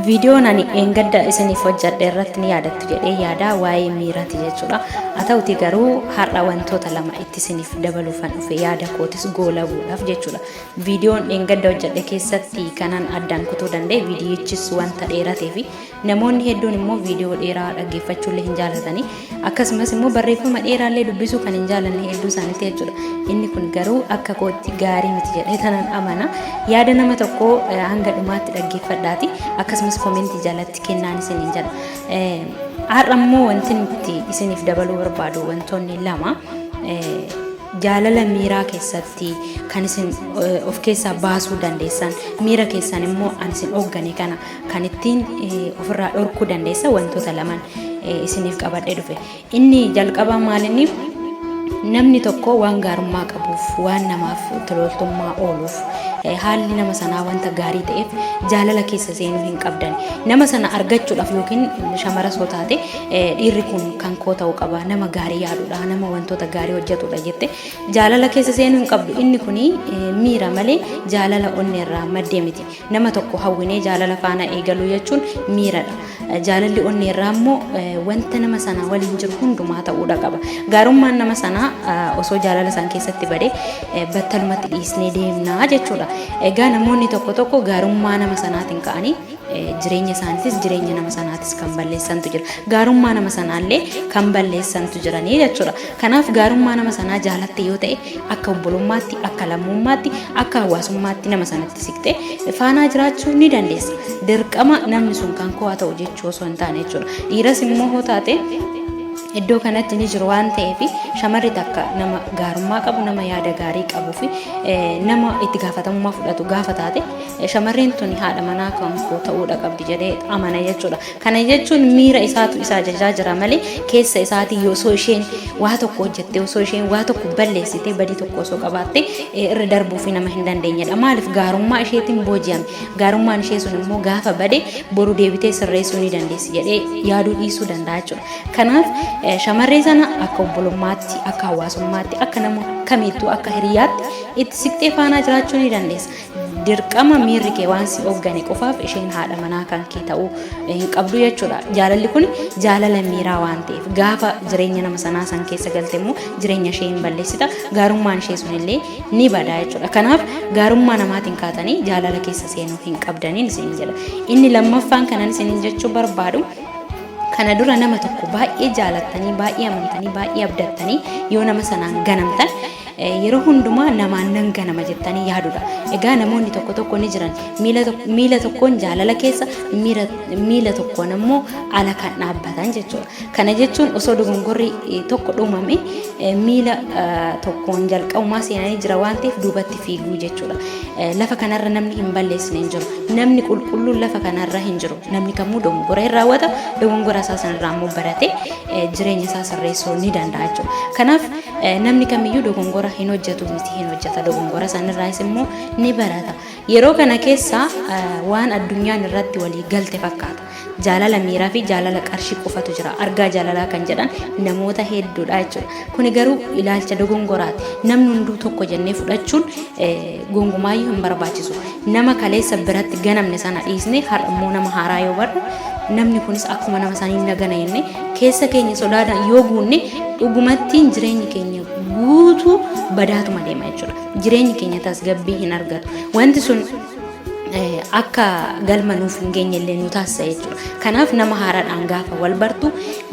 Viidiyoon ani dheengadda isiniif hojjadhe irratti ni yaadattu jedhee yaada waa'ee miiraati jechuudha. Haa ta'uti garuu har'a wantoota lama itti isiniif dabaluufan dhufe yaada kootis goolabuudhaaf jechuudha. Viidiyoon dheengadda hojjadhe keessatti kanan addaan kutuu danda'e viidiyichis wanta dheeratee fi namoonni hedduun immoo viidiyoo dheeraa dhaggeeffachuullee hin jaalatani. akkasumas immoo barreeffama dheeraallee dubbisuu kan hin jaalanne hedduu isaanitti jechuudha. Inni kun garuu akka kootti gaarii miti jedhee tanan amana. Yaada nama tokko eh, hanga dhumaatti dhaggeeffadhaati akkasumas komentii jalatti kennaan isiniin jedha. Eh, Har'a immoo wanti nuti isiniif dabaluu barbaadu wantoonni lama eh, jaalala miiraa keessatti kan isin eh, of keessaa baasuu dandeessan miira keessan immoo an isin hooggane kana kan ittiin ofirraa dhorkuu dandeessa wantoota lamaan isiniif qabadhee dhufe. Inni jalqabaa maalinni namni tokko waan gaarummaa qabuuf waan namaaf tolooltummaa ooluuf haalli nama sanaa wanta gaarii ta'eef jaalala keessa seenuu hin qabdan. Nama sana argachuudhaaf yookiin shamara soo taate dhiirri kun kan koo ta'uu qaba nama gaarii yaadudha nama wantoota gaarii hojjetudha jette jaalala keessa seenuu hin qabdu inni kun miira malee jaalala onneerraa maddee miti. Nama tokko hawwinee jaalala faana eegaluu jechuun miiradha. Jaalalli onneerraa immoo wanta nama sanaa waliin jiru hundumaa ta'uudha qaba. Gaarummaan nama sanaa osoo jaalala isaan keessatti bade battalumatti dhiisnee deemnaa jechuudha. Egaa namoonni tokko tokko gaarummaa nama sanaatiin ka'anii jireenya isaaniitis jireenya nama sanaatis kan balleessantu jira. Gaarummaa nama sanaallee kan balleessantu jiranii jechuudha. Kanaaf gaarummaa nama sanaa jaalatte yoo ta'e akka obbolummaatti, akka lammummaatti, akka hawaasummaatti nama sanatti siqxee faanaa jiraachuu ni dandeessa. Dirqama namni sun kan koo haa ta'u jechuu osoo hin taane jechuudha. Dhiiras immoo hoo taate iddoo kanatti ni jiru waan ta'eef shamarri takka nama gaarummaa qabu nama yaada gaarii qabuu fi eh, nama itti gaafatamummaa fudhatu gaafa taate eh, shamarreen tuni haadha manaa kan koo ta'uudha qabdi jedhee amana jechuudha. Kana jechuun miira isaatu isa ajajaa jira malee keessa isaatii osoo isheen waa tokko hojjettee osoo isheen waa tokko balleessitee badii tokko osoo qabaattee eh, irra darbuu fi nama hin dandeenyedha. Maaliif gaarummaa isheetiin booji'ame. Gaarummaan ishee sun immoo gaafa bade boru deebitee sirreessuu ni dandeessi jedhee yaaduu dhiisuu danda'a jechuudha. Kanaaf eh, shamarree sana akka obbolummaatti, akka hawaasummaatti, akka nama kamiittuu akka hiriyaatti itti siqxee faanaa jiraachuu ni dandeessa. Dirqama miirri kee waan si hooggane qofaaf isheen haadha manaa kan kee ta'uu hin qabdu jechuudha. Jaalalli kun jaalala miiraa waan ta'eef gaafa jireenya nama sanaa san keessa galte immoo jireenya ishee hin balleessita. Gaarummaan ishee sun illee ni bada jechuudha. Kanaaf gaarummaa namaatiin kaatanii jaalala keessa seenuu hin qabdaniin isin jedha. Inni lammaffaan kanan isin jechuu barbaadu kana dura nama tokko baay'ee jaalattanii baay'ee amantanii baay'ee abdattanii yoo nama sanaan ganamtan Yeroo hundumaa namaan nan ganama jettanii yaadudha. Egaa namoonni tokko tokko ni jiran miila tok- miila tokkoon jaalala keessa miira- miila tokkoon ammoo ala kan dhaabbatan jechuudha. Kana jechuun osoo dogongorri eh, tokko dhumame eh, miila eh, tokkoon jalqabumaa seenanii jira waan ta'eef duubatti fiiguu jechuudha. Eh, Lafa kanarra namni hin balleessine hin jiru. Namni qulqulluun lafa kanarra hin jiru. Namni kamuu dogongora hin raawwata. Dogongora isaa sanarraa ammoo baratee eh, jireenya isaa sirreessuu ni danda'a jechuudha. Kanaaf Namni kamiyyuu dogongora hin hojjetu miti hin hojjeta dogongora sanirraayis immoo ni barata. Yeroo kana keessa waan addunyaan irratti walii galte fakkaata. Jaalala miiraa fi jaalala qarshii qofatu jira. Argaa jaalalaa kan jedhan namoota hedduudha jechuudha. Kuni garuu ilaalcha dogongoraati. Namni hunduu tokko jennee fudhachuun Gongumaayyuu hin barbaachisu. Nama kaleessa biratti ganamne sana dhiisnee har'a immoo nama haaraa yoo barre namni kunis akkuma nama sanii na gana jennee keessa keenya sodaadhaan yoo guunne dhugumattiin jireenyi keenya guutuu badaatuma deema jechuudha. Jireenyi keenya tasgabbii hin argatu. Wanti sun eh, akka galma nuuf hin geenye illee nu taasisa jechuudha. Kanaaf nama haaraadhaan gaafa wal bartu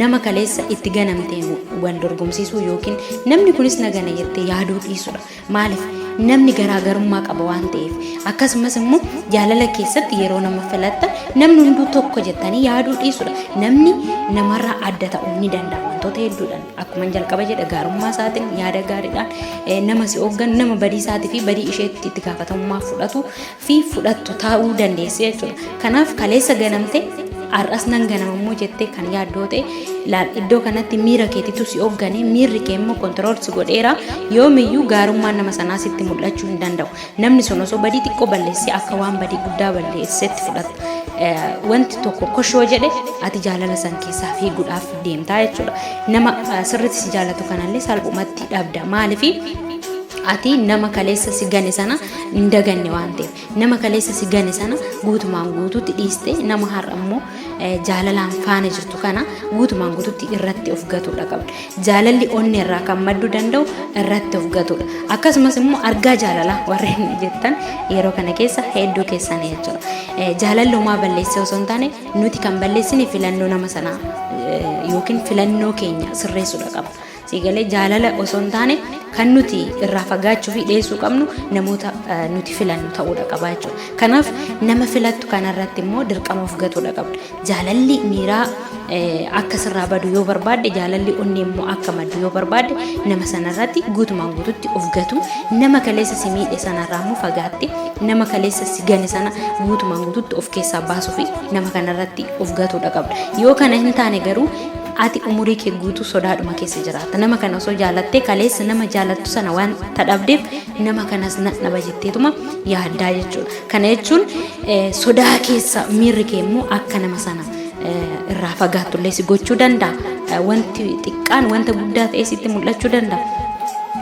nama kaleessa itti ganamteen wal dorgomsiisuu yookiin namni kunis na gana jettee yaaduu dhiisudha. Maaliif? Namni garaagarummaa qaba waan ta'eef. Akkasumas immoo jaalala keessatti yeroo nama filattan namni hunduu tokko jettanii yaaduu dhiisudha. Namni namarraa adda ta'uu ni danda'a wantoota hedduudhaan. Akkuma jalqaba jedhe gaarummaa isaatiin yaada gaariidhaan nama si hooggan nama badii isaatii fi badii isheetti itti gaafatamummaa fudhatu fi fudhattu taa'uu dandeessi jechuudha. Kanaaf kaleessa ganamte har'as nan ganamammoo jettee kan yaaddoo ta'e laal iddoo kanatti miira keetitu si hoogganee miirri kee immoo kontirool si godheera yoomiyyuu gaarummaan nama sanaa sitti mul'achuu hin danda'u. Namni sun osoo badii xiqqoo balleessee akka waan badii guddaa balleessetti fudhata. Wanti tokko koshoo jedhe ati jaalala san keessaa fiiguudhaaf deemtaa jechuudha. Nama sirriitti si jaalatu kanallee salphumatti dhabda. Maaliif? ati nama kaleessa si gane sana hin daganne waan ta'eef nama kaleessa si gane sana guutumaan guututti dhiiste nama har'a immoo jaalalaan faana jirtu kana guutumaan guututti irratti of gatuudha qabda jaalalli onnee irraa kan maddu danda'u irratti of gatuudha akkasumas immoo argaa jaalalaa warreen jettan yeroo kana keessa hedduu keessan jechuudha jaalalli homaa balleessee osoo hin taane nuti kan balleessine filannoo nama sanaa yookiin filannoo keenya sirreessuudha qabna. Sii galee jaalala osoo hin taane kan nuti irraa fagaachuu fi dhiyeessuu qabnu namoota eh, nuti filannu ta'uudha qaba jechuudha. Kanaaf nama filattu kanarratti immoo dirqama of gatuudha qabda. Jaalalli miiraa eh, akka sirraa badu yoo barbaadde jaalalli onnee immoo akka maddu yoo barbaadde nama sanarratti guutumaan guututti of gatu nama kaleessa si miidhe sanarraa immoo fagaatte nama kaleessa si gane sana guutumaan guututti of keessaa baasuu fi nama kanarratti of gatuudha qabda. Yoo kana hin taane garuu Ati umurii kee guutuu sodaadhuma keessa jiraatta. Nama kana osoo jaalattee kaleessa nama jaalattu sana waan tadhabdeef nama kanas nan dhaba jetteetuma yaaddaa jechuudha. Kana jechuun eh, sodaa keessa miirri kee immoo akka nama sana eh, irraa fagaattullee si gochuu danda'a. Eh, Wanti xiqqaan wanta guddaa ta'ee sitti mul'achuu danda'a.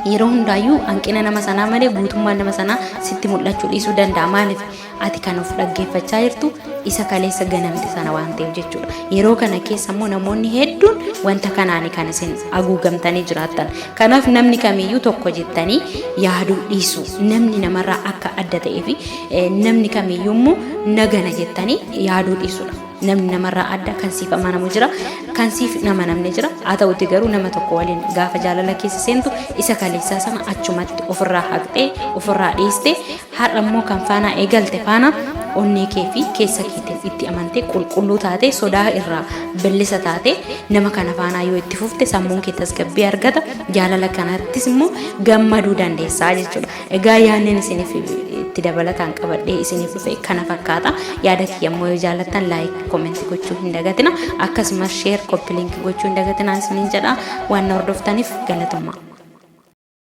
yeroo hundaayyuu hanqina nama sanaa malee guutummaan nama sanaa sitti mul'achuu dhiisuu danda'a maaliif Ati kan of dhaggeeffachaa jirtu isa kaleessa ganamte sana waan ta'eef jechuudha. Yeroo kana keessa immoo namoonni hedduun wanta kanaani kan isin haguugamtanii jiraattan. Kanaaf namni kamiyyuu tokko jettanii yaaduu dhiisu. Namni namarraa akka adda ta'ee fi eh, namni kamiyyuu immoo nagana jettanii yaaduu dhiisudha. Namni namarraa adda kan siif amanamu jira, kan siif hin amanamne jira. Haa ta'uti garuu nama tokko waliin gaafa jaalala keessa seentu isa kaleessaa sana achumatti ofirraa haqxee, ofirraa dhiistee Har'a immoo kan faanaa eegalte faana onnee kee fi keessa keetiin itti amantee qulqulluu taatee sodaa irraa billisa taatee nama kana faanaa yoo itti fufte sammuun kee tasgabbii argata jaalala kanattis immoo gammaduu dandeessaa jechuudha. Egaa yaadneen isiniif itti dabalataan qabadhee isiniif dhufe kana fakkaata. Yaada kiyya immoo yoo jaallattan laayik koomenti gochuu hin dagatina akkasumas sheer koppi liinki gochuu hin dagatina isiniin jedha waan na hordoftaniif galatoomaa.